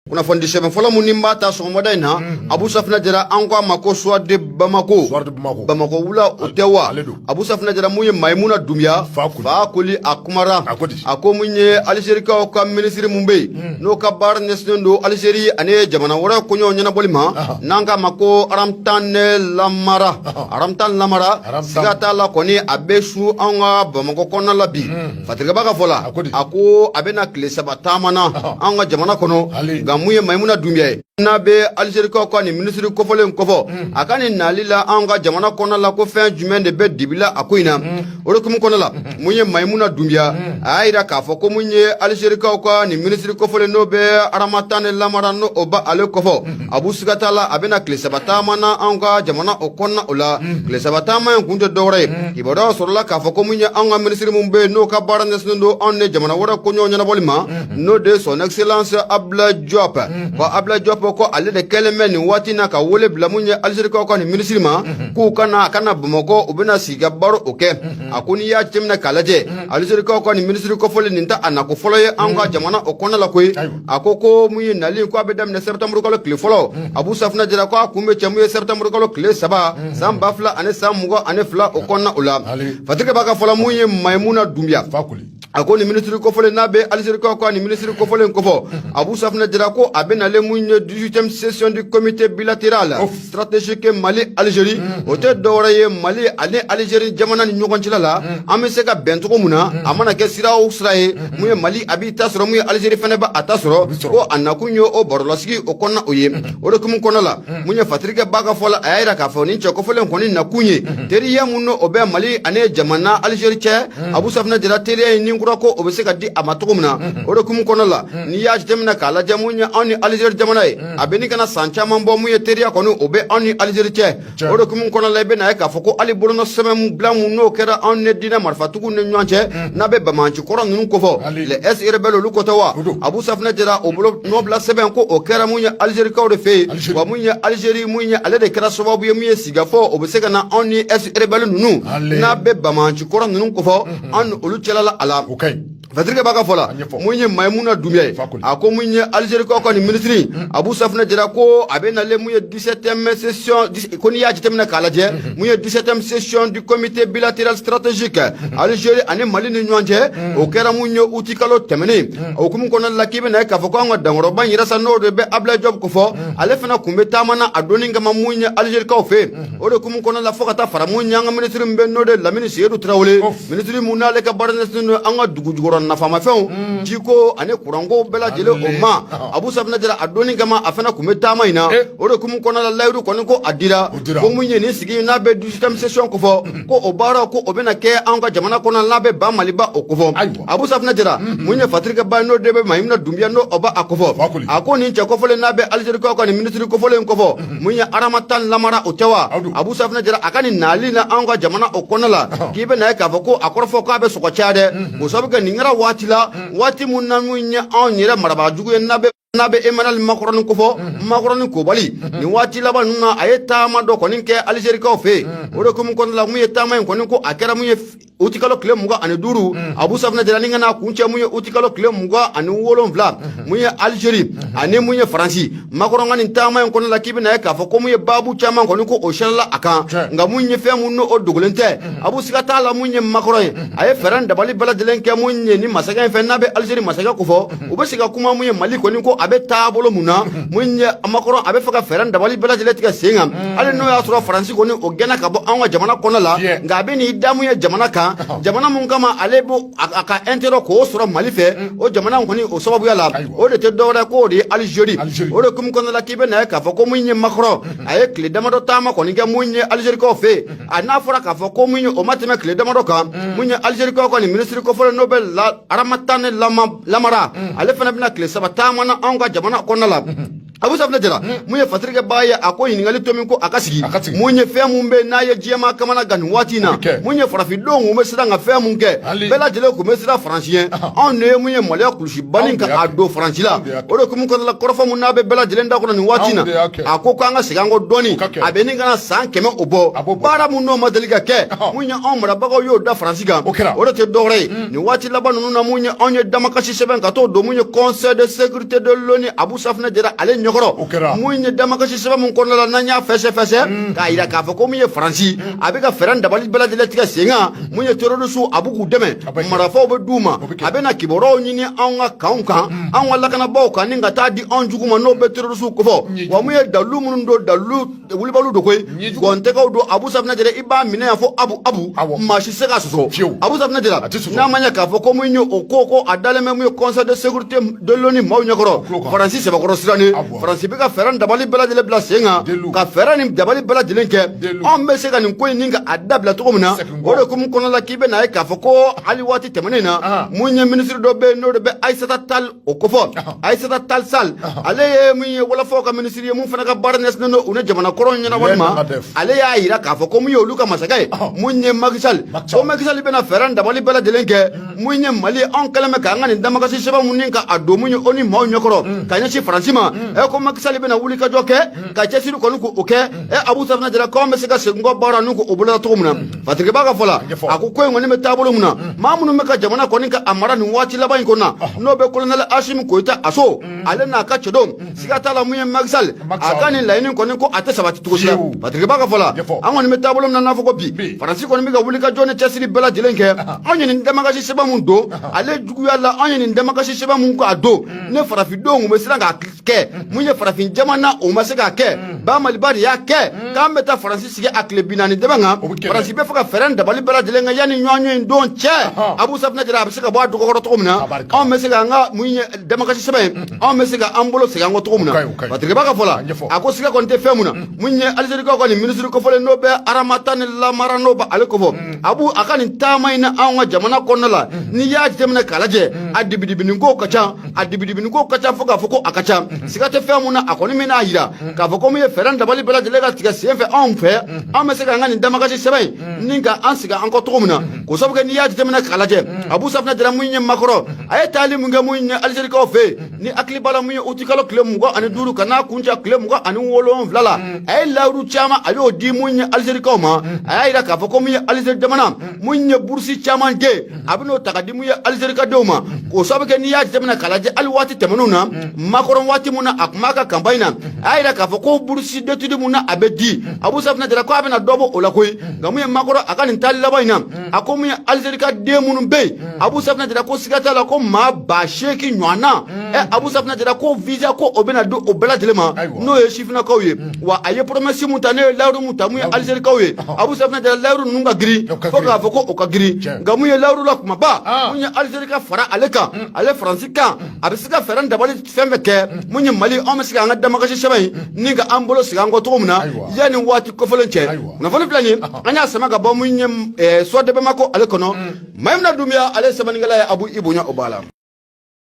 kunnafoni di sɛbɛn fɔlɔ min ni n b'a ta sɔgɔmada in na mhm. abu safunɛ jara an ko a ma ko soir de bamako bamakɔ wula o tɛ wa abu safunɛ jara mun ye mayimuna dunbiya fakoli a kumara a ko mun ye alizerikaw ka minisiri mun bɛ yen mhm. n'o ka baara ɲɛsinnen don alizeri ani jamana wɛrɛ koɲɛ ɲɛnabɔli ma n'an k'a ma ko aramtan lamara aramtan lamara siga t'a la kɔni a bɛ su an ka bamakɔ kɔnɔna la bi mhm. Fasirikɛba ka fɔ la a ko a bɛna tile saba taama na an ka jamana kɔnɔ nka mun ye mayimuna dunbiya ye n'a bɛ alizerikaw ka nin minisiri kofɔlen kofɔ mm. a ka nin nali la an ka jamana kɔnɔ la ko fɛn jumɛn de bɛ dibi la a ko in na mm. o de hukumu kɔnɔ la mm-hmm. mun ye mayimuna dunbiya mm. a y'a jira k'a fɔ ko mun ye alizerikaw ka nin minisiri kofɔlen n'o bɛ aramatani lamara n'o b'ale kofɔ mm-hmm. abu siga t'a la a bɛna tile saba taama na anw ka jamana o kɔnɔna o la tile saba taama in kun tɛ dɔwɛrɛ ye kibaruyaw sɔrɔla k'a fɔ ko min ye anw ka minisiri min bɛ yen n'o ka baara ɲɛsinnen don anw ni jamana wɛrɛ koɲɛ ɲɛnabɔli ma n'o de ye son excellence abulayi jɔp ko abulayi jɔp ko ale de kɛlen bɛ nin waati in na ka wele bila min ye alizerikaw ka nin minisiri ma k'u ka na a ka na bamakɔ u bɛna sigi ka baro o kɛ a ko n'i y'a jateminɛ k'a lajɛ alizerikaw ka nin minisiri kofɔlen nin tɛ a nako fɔlɔ ye anw ka jamana o kɔnɔna la koyi a ko ko mun ye nali ko a bɛ daminɛ sɛtanburu kalo tile fɔlɔ mm. abu safunɛ jara ko a kun bɛ cɛ mun ye sɛtanburu kalo tile saba mm. san ba fila ani san mugan ani fila o kɔnɔna o la fasirikɛba ka fɔ la mun ye mayimuna dunbiya a ko nin minisiri kofɔlen n'a bɛ alizerikaw ka nin minisiri kofɔlen kofɔ mm. abu safunɛ jara ko a bɛ nalen mun ye 18ème session du comité bilateral stratégique mali algérie o tɛ dɔwɛrɛ ye mali ani algérie jamana ni ɲɔgɔn cɛla la an bɛ se ka bɛn cogo min na a mana kɛ sira o sira ye mun ye mali a b'i ta sɔrɔ mun ye algérie fɛnɛ b'a a ta sɔrɔ ko a nakun ye o barolasigi o kɔnɔna o ye o de hukumu kɔnɔ la mun ye fasirikɛba ka fɔ la a y'a yira k'a fɔ nin cɛ kofɔlen kɔni nakun ye teriya mun n'o bɛ mali ani jamana algérie cɛ abu safunɛ jara teriya ye ni kura ko o bɛ se ka di a ma cogo min na o de hukumu kɔnɔ la n'i y'a jateminɛ k'a lajɛ mun ye anw ni algérie jamana ye a bɛ ɲini ka na san caman bɔ mun ye teriya kɔni o bɛ anw ni alizeri cɛ o de hukumu kɔnɔ la i bɛ na ye k'a fɔ ko hali bolonɔ sɛbɛn bila mun n'o kɛra anw ni diinɛ marifatigiw ni ɲɔgɔn cɛ mm. n'a bɛ banbaanci kɔrɔ ninnu kofɔ les ex-rebelles olu ko tɛ wa abu safunɛ jara o bolonɔbila sɛbɛn ko o kɛra mun ye alizerikaw de fɛ yen wa mun ye alizeri mun ye ale de kɛra sababu ye mun ye sigikafɔ o bɛ se ka na anw ni ex-rebelles ninnu n'a bɛ banbaanci kɔrɔ ninnu kofɔ mm-hmm. anw ni olu cɛla la a la Fasirikɛba ka fɔ la mun ye mayimuna dunbiya ye a ko mun ye alizerikaw ka nin minisiri hmm. abu safunɛ jara ko a bɛ nalen mun ye dix-huitième session ko n'i y'a jateminɛ k'a lajɛ hmm, hmm. mun ye dix-septième session du comité bilatéral stratégique alizeri ani mali ni ɲɔgɔn cɛ o kɛra mun ye uti kalo tɛmɛnen o hukumu kɔnɔna la k'i bɛna ye k'a fɔ ko an ka dankɔrɔba in yɛrɛ sa n'o de bɛ abulayi jɔp kofɔ ale fana tun bɛ taama na a don in kama mun ye alizerikaw fɛ o de hukumu kɔnɔ la fo ka taa fara mun y'an ka minisiri min bɛ n'o de lamini seyidu tarawele minisiri mun n'ale ka baara ɲɛsinnen don an ka dugu jukɔrɔ nafamafɛnw mm. jiko ani kuranko bɛɛ lajɛlen o ma abu safinɛ jara a donni kama a fana tun bɛ taama in na eh. o de hukumu kɔnɔ la layidu kɔni ko a dira ko mun ye nin sigi n'a bɛ dix-huitième session kofɔ mm. ko o baara ko o bɛna kɛ anw ka jamana kɔnɔ n'a bɛ ba maliba o kofɔ abu safinɛ jara mm-hmm. mun ye fasirikɛbaa n'o de bɛ mayimina dunbiya n'o o ba a kofɔ a ko nin cɛ kofɔlen n'a bɛ alizerikaw ka nin minisiri kofɔlen kofɔ mun ye aramatan lamara o tɛ wa abu safinɛ jara a ka nin nali na anw ka jamana o kɔnɔ la k'i bɛ na ye k'a fɔ ko a kɔrɔfɔ k'a bɛ sɔn ka caya dɛ mhm. o sabu kɛ nin kɛra waati la mhm. waati mun na mun ye anw yɛrɛ marabaa jugu ye n'a bɛ n'a bɛ emanali makɔrɔni kofɔ mhm. makɔrɔni kobali nin waati laban ninnu na a ye taama dɔ kɔni kɛ alizerikaw fɛ yen o de hukumu kɔnɔna la mun ye taama in kɔni ko a kɛra mun ye uti kalo tile mugan ani duuru mm. abu safinɛ jara ni ka na kuncɛ mun ye uti kalo tile mugan ani wolonfila mm-hmm. mun ye algérie mm-hmm. ani mun ye faransi makɔrɔn ka nin taama in kɔnɔ la k'i bɛna ye k'a fɔ ko mun ye baabu caman kɔni ko o siɲɛla a kan nka mun ye fɛn mun n'o dogolen tɛ mm-hmm. abu siga t'a la mun ye makɔrɔn ye a ye fɛɛrɛ ni dabali bɛɛ lajɛlen kɛ mun ye nin masakɛ in fɛ n'a bɛ algérie masakɛ kofɔ u bɛ se ka kuma mun ye mali kɔni ko a bɛ taabolo mun na mun ye makɔrɔn a bɛ fɛ ka fɛɛrɛ dabali bɛɛ lajɛlen tigɛ sen kan hali n'o y'a sɔrɔ faransi kɔni o gɛnna ka bɔ anw ka jamana kɔnɔ la nka a bɛ n'i da mun ye jamana kan jamana mun kama ale bɛ a ka intérêt k'o sɔrɔ mali fɛ mm. o jamana kɔni o sababuya la o de tɛ dɔwɛrɛ k'o de ye alizeri o de hukumu kɔnɔna la k'i bɛ na ye k'a fɔ ko mun ye makɔrɔn mm-hmm. a ye tile damadɔ taama kɔni kɛ mun ye alizerikaw fɛ mm-hmm. an'a fɔra k'a fɔ ko mun ye o ma tɛmɛ tile damadɔ kan mm. mun ye alizerikaw kɔni minisiri kofɔlen n'o bɛ la aramatani lamara ale fana bɛna tile saba taama na anw ka jamana kɔnɔna la abu safinɛ jara mun ye fasirikɛbaa ye a ko ɲininkali tomi ko a ka sigi mun ye fɛn mun bɛ n'a ye diɲɛmaa kamanagan nin waati in na mun ye farafindenw kun bɛ siran ka fɛn mun kɛ bɛɛ lajɛlen kun bɛ siran faransi ɲɛ anw de ye mun ye maloya kulusiba ni ka a don faransi la o de hukumu kɔnɔla kɔrɔfɔ mun n'a bɛ bɛɛ lajɛlen da kɔnɔ nin waati in na a ko k'an ka segin an kɔ dɔɔni a bɛ ɲini ka na san kɛmɛ o bɔ baara mun n'o ma deli ka kɛ mun ye anw marabagaw y'o da faransi kan o de tɛ dɔwɛrɛ ye nin waati laban ninnu na mun ye anw ye damakasi sɛbɛn ka t'o don mun ye conseil de sécurité de l'ONU abu safinɛ jara ale ɲɛkɔrɔ mun ye damakasi sɛbɛn min kɔnɔna la n'an y'a fɛsɛfɛsɛ mm. k'a yira k'a fɔ ko min ye faransi mm. a bɛ ka fɛɛrɛ ni dabali bɛɛ lajɛlen tigɛ sen kan mm. mun ye terorisiw a bɛ k'u dɛmɛ marafaw bɛ d'u ma a bɛna kibaruyaw ɲini anw ka kanw kan anw ka lakanabaaw kan ni ka taa di anw jugu ma n'o bɛ terorisiw kofɔ wa mun ye dalilu minnu don dalilu wulibaliw don koyi gɔntɛgɛw don abu safinɛ jara i b'a minɛ yan fo abu abu maa si se k'a sɔsɔ fiyewu abu safinɛ jara n'a ma ɲɛ k'a fɔ ko mun ye o ko ko a dalen bɛ mun ye conseil de sécurité de l'ONU maaw ɲɛkɔrɔ faransi sɛbɛkɔrɔ sirannen faransi bɛ ka fɛɛrɛ ni dabali bɛɛ lajɛlen bila sen kan ka fɛɛrɛ ni dabali bɛɛ lajɛlen kɛ anw bɛ se ka nin ko in ni ka a dabila cogo min na o de hukumu kɔnɔna la k'i bɛ n'a ye k'a fɔ ko hali waati tɛmɛnen na mun ye minisiri dɔ bɛ yen n'o de bɛ ayisata tali o kofɔ ayisata tali sal ale ye min ye wɔlɔfɔw ka minisiri ye mun fana ka baara ɲɛsinnen don u ni jamana kɔrɔw ɲɛnabɔli ma ale y'a yira k'a fɔ ko mun ye olu ka masakɛ ye mun ye makisali ko makisali bɛna fɛɛrɛ dabali bɛɛ lajɛlen kɛ mun ye mali anw kɛlen bɛ k'an ka nin damakasi sɛbɛn mun ni ka a don mun ye oni maaw ɲɛkɔrɔ ka ɲɛsin faransi ma ɛ ko makisali bɛna wulikajɔ kɛ ka cɛsiri kɔni k'o kɛ ɛ abu safinɛ jara k'anw bɛ se ka segin kɔ baara n'u k'o boloda cogo min na patiriki ba ka fɔ la a ko ko in kɔni bɛ taabolo min na maa minnu bɛ ka jamana kɔni ka a mara nin waati laban in kɔnɔ na n'o bɛ kolonɛli asimi goyita a so ale n'a ka cɛdenw siga t'a la mun ye makisali a ka nin laɲini kɔni ko a tɛ sabati cogo si la patiriki ba ka fɔ la an kɔni bɛ taabolo min na n'a fɔ ko bi faransi kɔni bɛ ka wuli ka jɔ ni cɛsiri bɛɛ lajɛlen kɛ anw ye nin damakasi sɛbɛn min don ale juguya la anw ye nin damakasi sɛbɛn min k'a don nin farafindenw tun bɛ siran k'a kɛ mun ye farafin jamana o ma se k'a kɛ ba maliba de y'a kɛ k'an bɛ taa faransi sigi a tile bi naani dɛbɛn kan faransi bɛ fɛ ka fɛɛrɛ dabali bɛɛ lajɛlen kɛ yanni ɲɔgɔnye in don cɛ abu safinɛ jara a bɛ se ka bɔ a dɔgɔkɔrɔ cogo min na anw bɛ se k'an ka mun ye damakasi sɛbɛn ye anw bɛ se ka an bolo segin an kɔ cogo min na patiriki ba ka fɔ la a ko siga kɔni tɛ fɛn mun na mun ye alizerikaw ka nin minisiri kofɔlen n'o bɛ aramatani lamara n'o bɛ ale kofɔ abu a ka nin taama in na anw ka jamana kɔnɔna la n'i y'a jateminɛ k'a lajɛ a dibidibinin kow ka ca a dibidibinin kow ka ca fo k'a fɔ ko a ka ca siga tɛ fɛn mun na a kɔni min n'a yira k'a fɔ ko min ye fɛɛrɛ dabali bɛɛ lajɛlen ka tigɛ sen fɛ anw fɛ an bɛ se k'an ka nin damakasi sɛbɛn in ni ka an segin an kɔ cogo min na k'o sabu kɛ n'i y'a jateminɛ k'a lajɛ abu safinɛ jara mun ye makɔrɔn a ye taali mun kɛ mun ye alizerikaw fɛ yen n'i hakili b'a la mun ye utikalo tile mugan ani duuru ka n'a kuncɛ tile mugan ani wolonwula la a ye layiru caman a y'o di mun ye alizerikaw ma a y'a yira k'a fɔ ko min ye alizeri jamana mun ye burusi caman kɛ a bɛ n'o ta ka di mun ye alizerika denw ma o sababu kɛ n'i y'a jateminɛ k'a lajɛ ali waati tɛmɛnw na makɔrɔn waati min na a tun b'a ka kanpaɲi na a y'a jira k'a fɔ ko burusi d'étude min na a bɛ di abu safinɛ jara ko a bɛna dɔ bɔ o la koyi nka mun ye makɔrɔn a ka nin taali laban in na a ko min ye alizerika den minnu bɛ yen abu safinɛ jara ko siga t'a la ko maa ba seegin ɲɔgɔn na ɛ abu safinɛ jara ko visa ko o bɛna don o bɛɛ lajɛlen ma n'o ye sifininakaw ye wa a ye promesse mun ta n'o ye layiru mun ta mun ye alizerikaw ye abu safinɛ jara layiru ninnu ka girin fo k'a fɔ ko o ka girin nka mun ye layiru la kumaba ah. mun ye alizeri ka fara ale kan mm. ale faransi kan mm. a bɛ se ka fɛɛrɛ dabali fɛn fɛn kɛ mm. mun ye mali anw bɛ se k'an ka damakasi sɛbɛn in ni ka an bolo segin an kɔ cogo min na yanni waati kofɔlen cɛ kunnafoni filɛ nin an y'a sama ka bɔ mun ye eh, soir de bamako ale kɔnɔ mayimuna dunbiya ale sɛbɛnnikɛla ye abu i bonya o b'a la